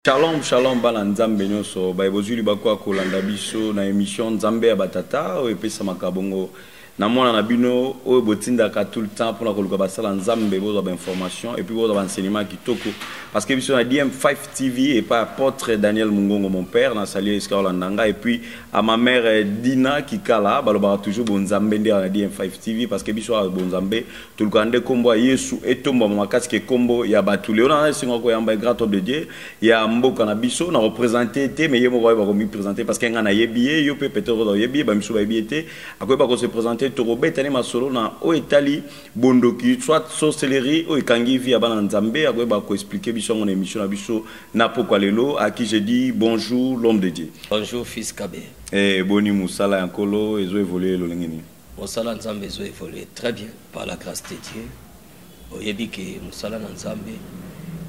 shalom shalom bana nzambe nyonso baye bozwi libaku ya kolanda biso na émission nzambe ya batata oyo epesamaka bongo na mwana na bino oyo botindaka tout le temps mpona koluka basala nzambe bozwa bainformation epuis bozwa baenseignement ya kitoko parce que biso na dm5 tv epai apôtre daniel mongongo mon père na sali esika olanda ngai epuis à ma mère euh, Dina Kikala balobaka toujours bonzambe nde na DN5 TV parce que biso awa bonzambe tolukaka nde kombo ya Yesu etomba makasi ke kombo ya bato leo na esengo koyamba grand homme de Dieu ya mboka na biso na représenter te mais ye moko ayeba komi présenter parce que nga na yebi ye yo pe peut-être oza yebi ba misu ba yebi te akoyeba ko se présenter tokobeta ne masolo na o etali bondoki soit sorcellerie o ekangi vie ya bana nzambe akoyeba ko expliquer biso ngo na émission na biso Na pokwa lelo à qui j'ai dit bonjour l'homme de Dieu. Bonjour fils Kabe. Eh boni musala ya nkolo ezo évoluer lolenge nini? Musala Nzambe ezo évoluer très bien par la grâce de Dieu. Oyebi ke musala na Nzambe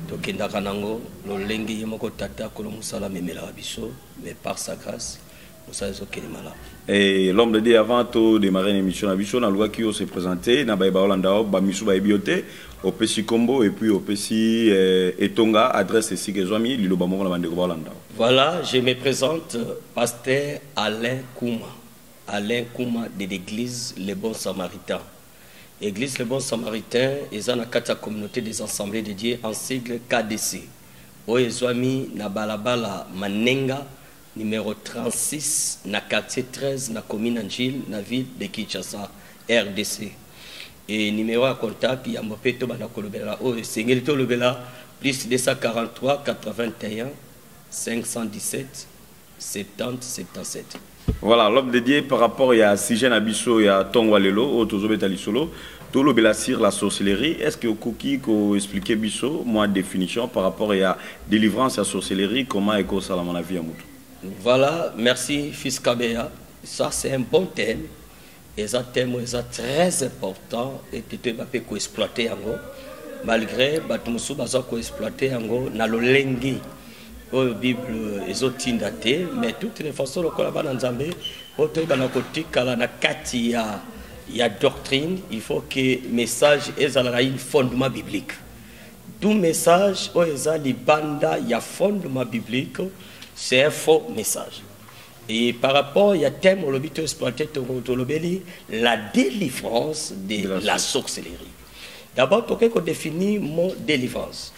tokendaka nango lolenge ye moko tata kolo musala amemelaka biso mais par sa grâce mosala ezokende malamu Et l'homme de Dieu, avant de démarrer une émission à Bichon, on a qui se présenter, na baïba Hollanda, bamisu baibiote, au Pessi Combo et puis au Pessi euh, Etonga, adresse ici que Zomi, Lilo Bamoko, la bande de Hollanda. Voilà, je me présente, euh, pasteur Alain Kouma, Alain Kouma de l'église Les Bons Samaritains. Église Les Bons Samaritains, ils ont la communauté des assemblées de Dieu en sigle KDC. Oye Zomi, na balabala Manenga, numero 36 na quartier 13 na commune Angile na ville de Kinshasa RDC et numero ya contact ya mbope to banda kolobela oyo esengeli tolobela plus 243 81 517 70 77 Voilà, l'homme de Dieu par rapport ya sujet na biso ya tongo lelo oyo tozobeta lisolo tolobela sur la sorcellerie est ce que okoki ko expliquer biso moi définition par rapport ya délivrance ya sorcellerie comment ekosalama na vie ya moto voilà merci fils kabeya ça c'est un bon thème eza thème eza très important ete toyeba mpe koexploite yango malgré bato mosusu baza koexploite yango na lolenge oyo bible ezotinda te mais toute les façons lokola bana nzambe oyo toyebana kotikala na kati ya ya doctrine il faut que message ezala na une fondement biblique tout message oyo eza libanda ya fondement biblique c'est un faux message et par rapport ya thème olobi to exploité tolobeli la délivrance de, de la, la sorcellerie d'abord tokoki kodéfinir mot délivrance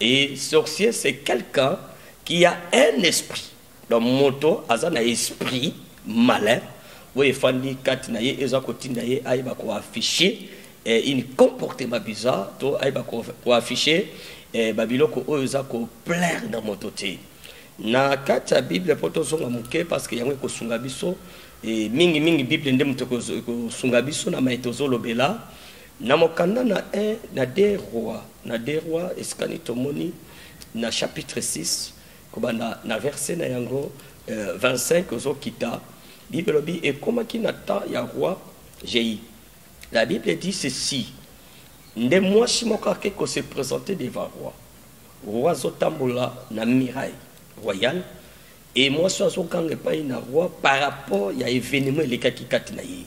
Et sorcier c'est quelqu'un qui a un esprit. Donc moto aza na esprit malin oyo efandi kati na ye eza kotinda ye ayeba koaffiche eh, une comportement bizarre to ayeba koaffiche eh, babiloko oyo eza koplaire na moto te na kati ya bible mpo tozonga moke parce que yango ekosunga biso eh, mingi mingi bible nde moto ekosunga biso na mai tozolobela Na mokanda na I na de Roi, na de Roi esikani tomoni na chapitre 6 kobanda na verse na yango euh, 25 ozokita bible elobi ekomaki na temps ya roi jei la bible dit ceci nde mwasi moko ake ko se présenter devant roi roi azotambola na muraille royale Et mwasi oyo azoganga epai na roi par rapport ya evenement elekaki kati na ye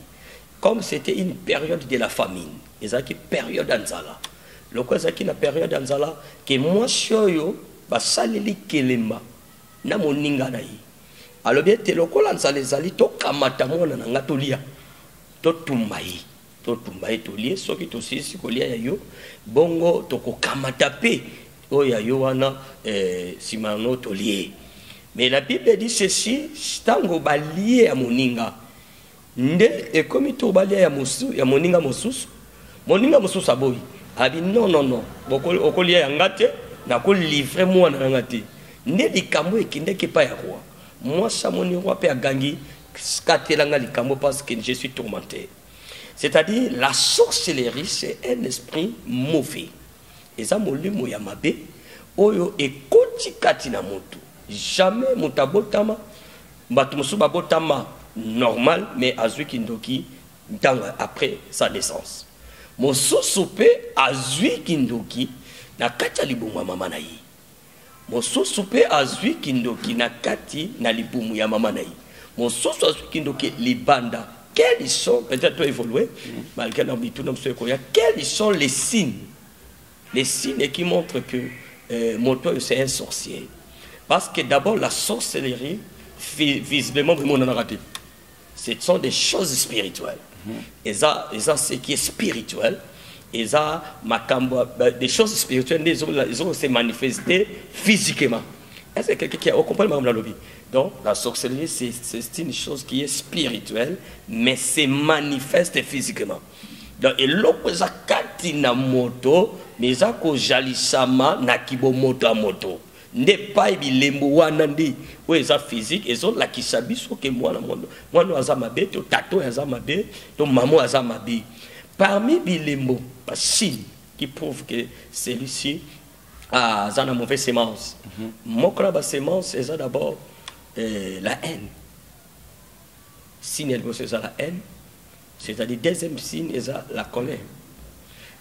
comme c'était une période de la famine ezalaki période ya nzala lokola ezalaki na période ya nzala ke mwasi oyo basaleli kelemba na moninga na ye alobi ete lokola nzala ezali tokamata mwana na ngai tolia totumba ye totumba ye tolie soki tosilisi kolia ya yo bongo tokokamata mpe oyo ya yo wana eh, nsima eh, yango tolie mais la bible dit ceci ntango balie ya moninga nde ekomi to balia ya, mosu, ya moninga mosusu moninga mosusu aboyi abi non non non okolia ya nga te nakolivre mwana na nga te nde likambo ekendeki epai ya roi mwasi amoni roi mpe agangi katela nga likambo parce que je suis tourmenté c'est-à-dire la sorcellerie c'est un esprit mauvais eza molimo ya mabe oyo ekoti kati na motu jamais moto abotama bato mosusu babotama normal mais azwi kindoki ntango après sa naissance mosusu mpe azwi kindoki na kati ya libumu ya mama na ye Mosusu pe azwi kindoki na kati na libumu ya mama na ye. Mosusu azwi kindoki libanda. Quels sont, peut-être to evoluer, malgré na mituna mosusu ekoya, quels sont les signes, les signes qui montrent que euh, moto oyo c'est un sorcier. Parce que d'abord la sorcellerie, visiblement, vraiment, on en a raté. ce sont des choses spirituelles mm -hmm. eza eza ce qui est spirituel eza makambo des choses spirituelles nde ezo se manifester physiquement est ce que quelqu'un qui a compris makambo nalobi donc la sorcellerie c'est une chose qui est spirituelle mais se manifeste physiquement donc eloko eza kati na moto mais eza kozalisama na kibomoto ya moto nde pai bilembo wana nde oyo eza physique ezolakisa biso ke mwana mwana mwana aza mabe to tata oyo aza mabe to mama oyo aza mabe parmi bilembo basigne qui prouve que celui-ci ah, aza na mauvaise semence mhm. moko na basemence eza d'abord euh, la haine signe ya liboso eza la haine c'est-à-dire deuxième signe eza la colère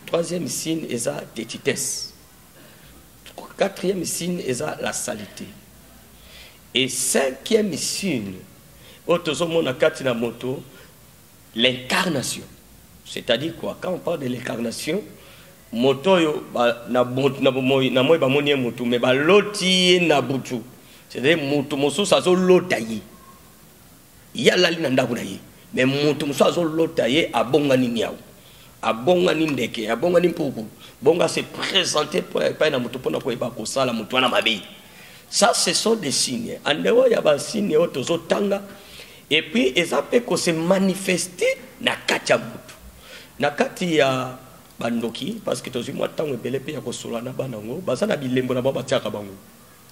troisième signe eza tetitesse Quatrième signe eza la salite. Et cinquième signe, otozomona kati na moto, l'incarnation. C'est-à-dire quoi Quand on parle de l'incarnation, moto oyo na bomoi bamoni ye motu me baloti ye na butu c'est-à-dire motu mosusu azolota ye ye alali na ndako na ye me moto mosusu azolota ye abongani niau abongani ndeke abongani mpuku bongo ase présente epai na moto mpona koyeba kosala moto wana mabe ça ce sont des signes en dehors ya basigne oyo tozotanga epuis eza mpe kose manifeste na kati ya motu na kati ya bandoki parce que tozwi mwa ntango ebele mpe ya kosolola na bana yango baza na bilembo na bango batiaka bango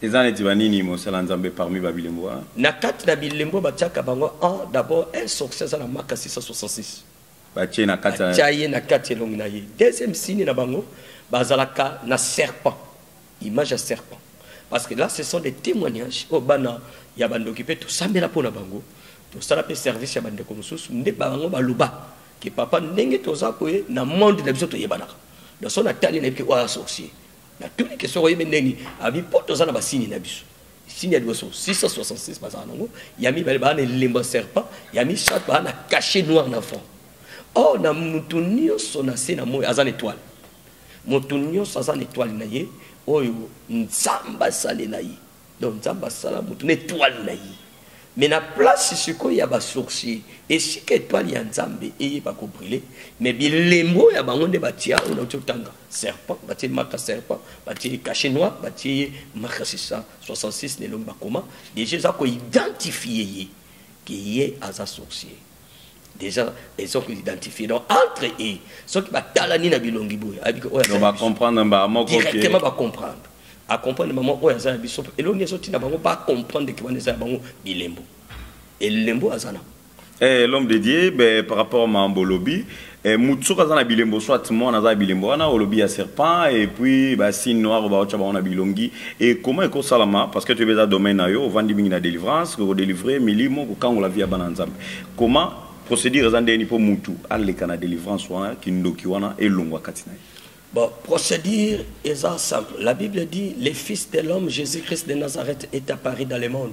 Eza neti ba nini mosala nzambe parmi ba bilembo wana. Na kati na bilembo batiaka bango en d'abord un sorcier aza na maka 666. Batie na kati. Batia ye na kati elongi na ye. Deuxième signe na bango bazalaka na serpent. Image ya serpent. Parce que là ce sont des témoignages oyo oh, bana ya bandoki mpe tosambela mpo na bango tosala mpe service ya bandeko mosusu nde bango baloba ke papa ndenge toza koye na monde na biso toyebanaka donc so natali nayebi ke oyo asorcier natuni ke soki oyebi ndenge nini abi mpo toza na basini na biso sini ya liboso 666 bazala nango ya mibale baa na elembo ya serpent ya misato baa na cachet noir na fond or oh, na moto nyonso na se na moi aza na etoile moto nyonso aza na etoile na ye oyo nzambe asalela ye donc nzambe asala motu na etwale na ye me na place sikoyo ya basourcier esika etwale ya nzambe eyeba kobrile me bilembo oyo ya bango nde batia oyo nauti otanga serpent batie maka serpent batie cache noir batie ye maka 666 na elongi bakoma deja eza koidentifie ye ke ye aza sourcier déjà ils ont identifié donc entre eux soki batalani na bilongi boye ayebiki oyo aza bacomprendre mbaa moko directement bacomprendre acomprendre mama oyo aza ya biso elongi ezotinda bango bacomprendre ke wana eza ya bango bilembo elembo aza na eh, l'homme de dieu ben, par rapport ma bolobi Eh, mutu soki aza na bilembo soit mwana aza na bilembo wana olobi ya serpent et puis basine noire baotya bango na bilongi e koma ekosalama parce que toyebi eza domaine na yo ovandi mingi na délivrance kokodelivre milimo kokangola vie ya bana ya nzambe koma procédure eza ndeni mpo mutu aleka na délivrance wana kindoki wana elongwa kati na ye Bon, procédure est simple. La Bible dit, le Fils de l'homme, Jésus-Christ de Nazareth, est apparu dans le monde.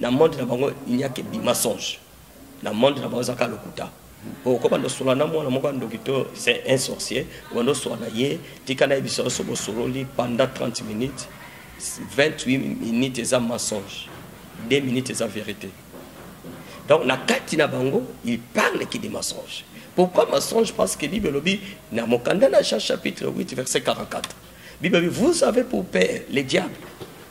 na monde na bango il n'y a que du mensonge na monde na bango ezaka lokuta po ko bando sola na mwana moko ndoki to c'est un sorcier bando sola na ye tika na biso so bo sololi pendant 30 minutes 28 minutes eza mensonge 2 minutes eza vérité donc na kati na bango il parle que des mensonges pourquoi mensonge parce que bible lobi na mokanda na Jean chapitre 8 verset 44 bible vous avez pour père le diable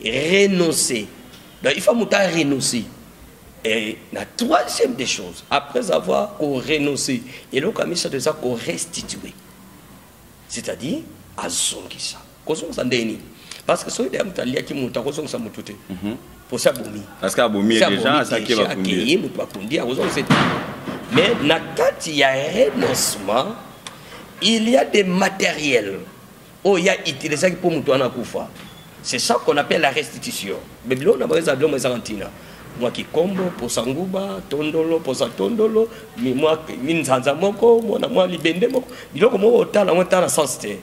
renoncer donc il faut moto a renoncer et la troisième des choses après avoir ko renoncer eloko ya misato eza ko restituer c'est-à-dire azongisa kozongisa ndenge nini parce que soki deya moto aliaki moto akozongisa moto te mhm. mposi abomi parce que abomi déjà asaki bakundie moto bakundi akozongisa te mais na kati ya renoncement il y a des matériels oyo ya utilisaki mpo moto wana akufa c'est ça qu'on appelle la restitution mais biloko na bango eza biloko ezanga ntina mwa kikombo posa nguba tondolo posa tondolo mwa nzanza moko mwana mwa libende moko biloko moko otala yango etala sens te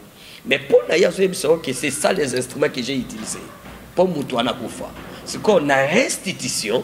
mais mpo na ye azoyebisa yo ke c'est ça les instruments que j'ai utilisé mpo moto wana akufa sikoyo na restitution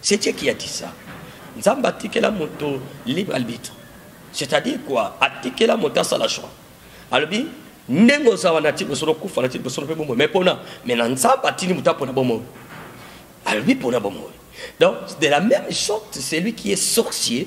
C'est Dieu qui a dit ça. Nzambe atikela moto libre arbitre. C'est-à-dire quoi Atikela moto asala choix. Alobi ndenge oza wana ti bosolo kufa na ti bosolo mpe bomoi mais pona mais na nzambe atindi moto apona bomoi alobi pona bomoi donc de la même sorte celui qui est sorcier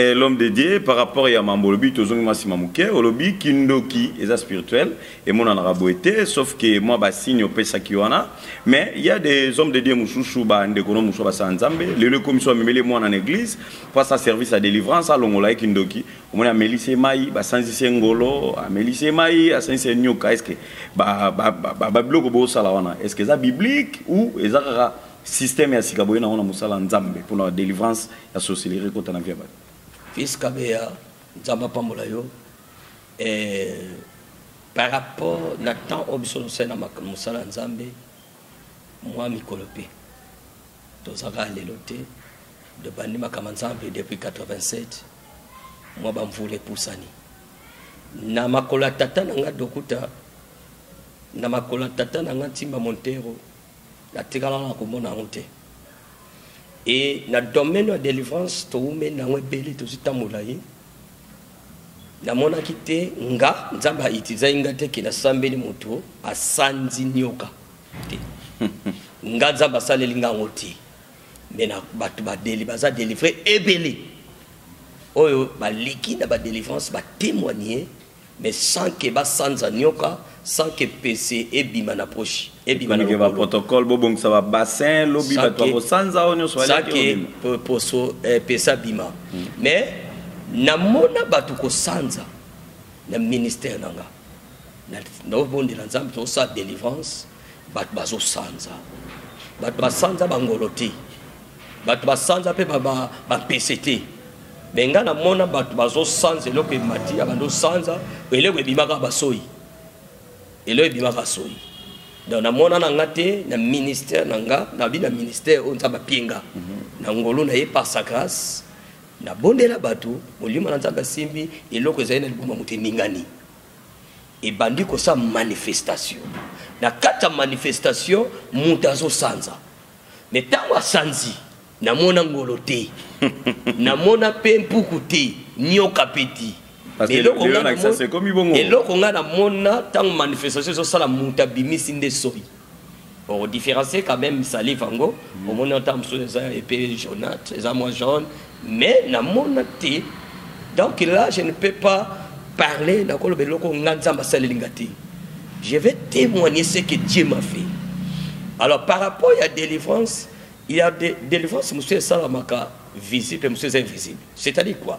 Eh, l'homme de Dieu par rapport ya mambo olobi tozongi mwa nsima moke olobi kindoki eza spirituel emonanaka boye te sauf ke mwa basigne opesaki wana mais il y a des hommes de Dieu mosusu bandeko no mosusu basala nzambe lelo ekomisi bamemeli mwana na église mpo asala service ya délivrance alongola ye kindoki omoni amelisi ye mai basanzisi ye ngolo amelisi ye mai asanzisi ye nyoka estce babiloko bosala wana estce eza biblique ou eza kaka système ya sika boye nango na mosala nzambe mpona délivrance ya sorcellerie kota na vie ya bato fils kabeya nzambe apambola yo eh, par rapport na temps oyo biso tosali na mosala ya nzambe mwa mikolo mpe tozalaka lelo te de bandi makama nzambe depuis 87 mwa bamvula epusani na makolo ya tata na ngai dokuta na makolo ya tata na ngai ntimba montero natikala na komona yango te e na domaine ya délivrance towumeli na yango ebele tozwi ntango molai namonaki te nga nzambe autilisaki nga te ke nasambeli moto asanzi nyoka te nga nzambe asaleli nga yango te me na bato badeli baza délivre ebele oyo baleki na badelivrance batémoigne mais sans que ba sanza nioka sans que pese ebima na poche ebima na ke ba protocole bo bongisa ba bassin lobi ba to ko sanza o nioso wala ke ebima sans que poso eh, pesa bima hmm. mais na mona batu ko sanza na ministère nanga na na bondela nzambe to sa délivrance bato bazosanza bato basanza bangolo te bato basanza mpe bampese te me ngai namona bato bazosanza eloko emati ya bando sanza eloko ebimaka basoi eloko ebimaka soi donc namona na nga te na ministère na nga nabi na ministère oyo nzambe apie nga mhm. na ngolo na ye par sa grâce nabondela bato molimo na nzambe asimbi eloko ezali na liboma moto eningani ebandi kosa manifestation na kati ya manifestation moto azosanza me ntango asanzi namona ngolo te namona mpe mpuku te nyoka mpe te eloko ngai namona ntango manifestation ezosala moto abimisi nde soi Au différencier quand même salive yango mm. omoni ata mosusu eza epe jaunate eza mwa jaune mais namona te donc là je ne peux pas parler nakoloba eloko nga nzambe asaleli nga te je vais témoigner ce que dieu m'a fait alors par rapport ya délivrance il y a de, délivrance mosusu esalamaka visible mpe mosusu eza invisible c'est à dire quoi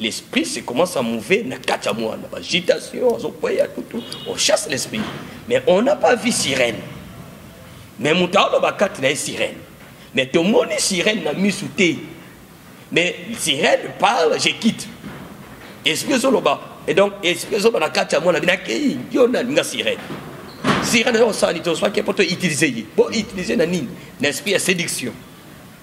l'esprit se commence à mouver na kati ya mwana bagitation azokweya tutu on chasse l'esprit mais on n'a pas vu sirène mais moto aoloba kati na ye sirène mais tomoni sirène na misu te mais sirène parle je quitte esprit ezoloba et donc esprit ezoloba na kati ya mwana bino akei yo nani nga sirène sirène eza kosala nini tozwaki mpo to utiliser ye bo utiliser na nini na esprit ya séduction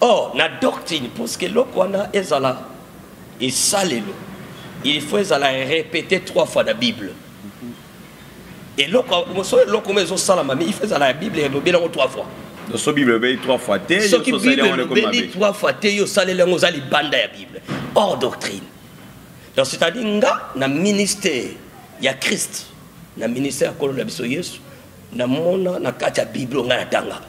or na doctrine parce que eloko wana ezala esalelo il faut ezala répété trois fois na bible eloko moso eloko mo ezosalama mais il faut ezala ya bible elobeli yango trois fois so bible elobeli trois fois te soki bible elobeli trois fois te yo osaleli yango oza libanda ya bible hors doctrine donc c'est-à-dire nga na ministère ya christ na ministère ya kolo na biso yesu namona na kati ya bible ngai natangaka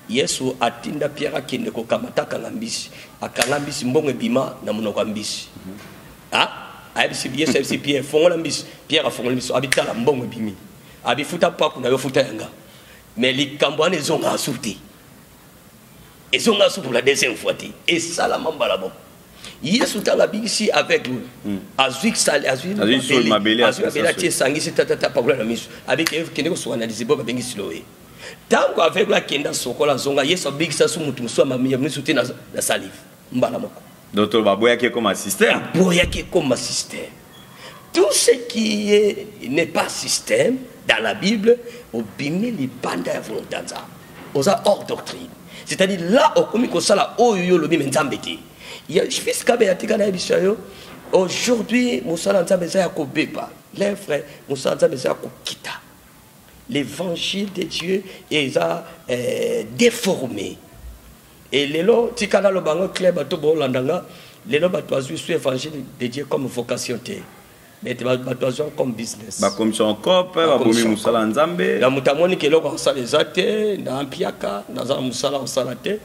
Yesu atinda Pierre akende kokamata kanga mbisi. Akanga mbisi mbongo ebima na monoko ya mbisi. Mm -hmm. Ah, ayebisi Yesu ayebisi Pierre fongola mbisi. Pierre afongola mbisi abitala mbongo ebimi. Abifuta paku na yo futa yanga. Mais likambo wana ezonga asu te. Ezonga asu pour la deuxième fois te. Esalama mbala moko. yesu ntango abikisi aveugle oyo hmm. azwi azwi mabele atie esangisi tatata pakola na miso abiki kende kosuka na lizibo babengi siloe ntango aveugle akenda asokola azonga yesu abikisa su moto mosusu ya misu te na salive mbala moko donc baboyaki ekoma système aboyaki ekoma système tout ce qui est n'est pas système dans la bible obimi libanda ya volonté ya nzambe oza hors doctrine c'est-à-dire là okomi kosala oyo yo olobi me nzambe te fils kabela tika na yebisa yo aujourd'hui mosala ya nzambe eza ya kobeba lefre mosala ya nzambe eza ya kokita L'évangile de Dieu est euh, déformé. Et lelo tika na lobango club bato bolanda nga lelo bato bazwi su évangile de Dieu comme vocation te mais bato azwi comme business bakomisa encore mpe babomi mosala ya nzambe na moto amoniki eloko akosala eza te na mpiaka naza na mosala akosala te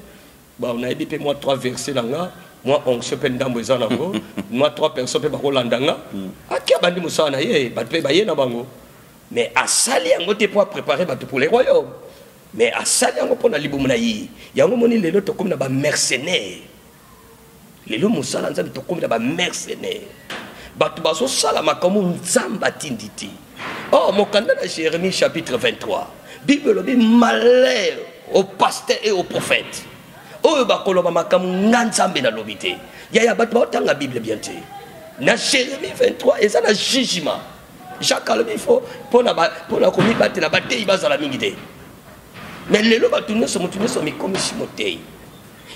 Bon, nayebi mpe mwa trois verset na nga mwa onction mpe ndambo eza nango mwa trois personnes mpe bakolanda nga hmm. ake abandi mosala na ye bato mpe baye na bango mais asali yango te mpo aprépare bato pour le royaume mais asali yango mpo na libumu na ye yango moni lelo tokomi na bamercenaire lelo mosala ya nzambe tokomi na bamercenaire bato bazosala makambo nzambe atindi te o oh, mokanda na jérémie chapitre 23 bible elobi malheur au pasteur et au prophète oyo bakoloba makambo nga nzambe nalobi te yaya bato baotanga bible bien te na jérémie 23 eza na jugement jacques alobi fo mpona komibatela bateyi bazala mingi te mais lelo bato nyonso moto nyonso mikomisi moteyi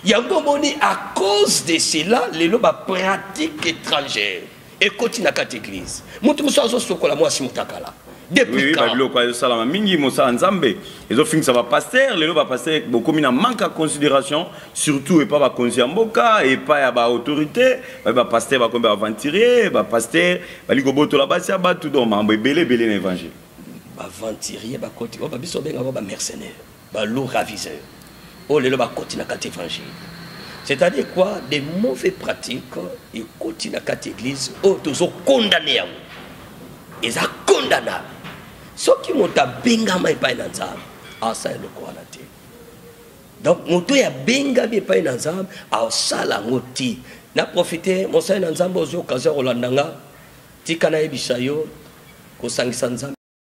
yango omoni à cause de cela lelo bapratique étrangère ekoti na kati église moto mosusu azosokola mwasi motakala babiloko ezosalama mingi mosala nzambe ezofingisa bapaster lelo bapaster bokomi na manque ya considération surtout epa bakonzi ya mboka epa ya baautorité baye bapaster bakomi baaventurier bapaster bali kobotola basi ya bato do mambo ebele ebele na évangile baaventurier bakoti oyo babiso obenga ngo bamercenaire Ba loups raviseurs. Oh lelo ba koti na kati évangile. C'est-à-dire quoi Des mauvais pratiques et koti na kati église oh tozo condamner yango. Eza condamnable. Soki moto abengama epai na Nzambe, asala eloko wana te. Donc moto ya bengami epai na Nzambe, asala yango te. Na profiter mosali na Nzambe ozwi occasion ya kolanda nga, tika nayebisa yo kosangisa Nzambe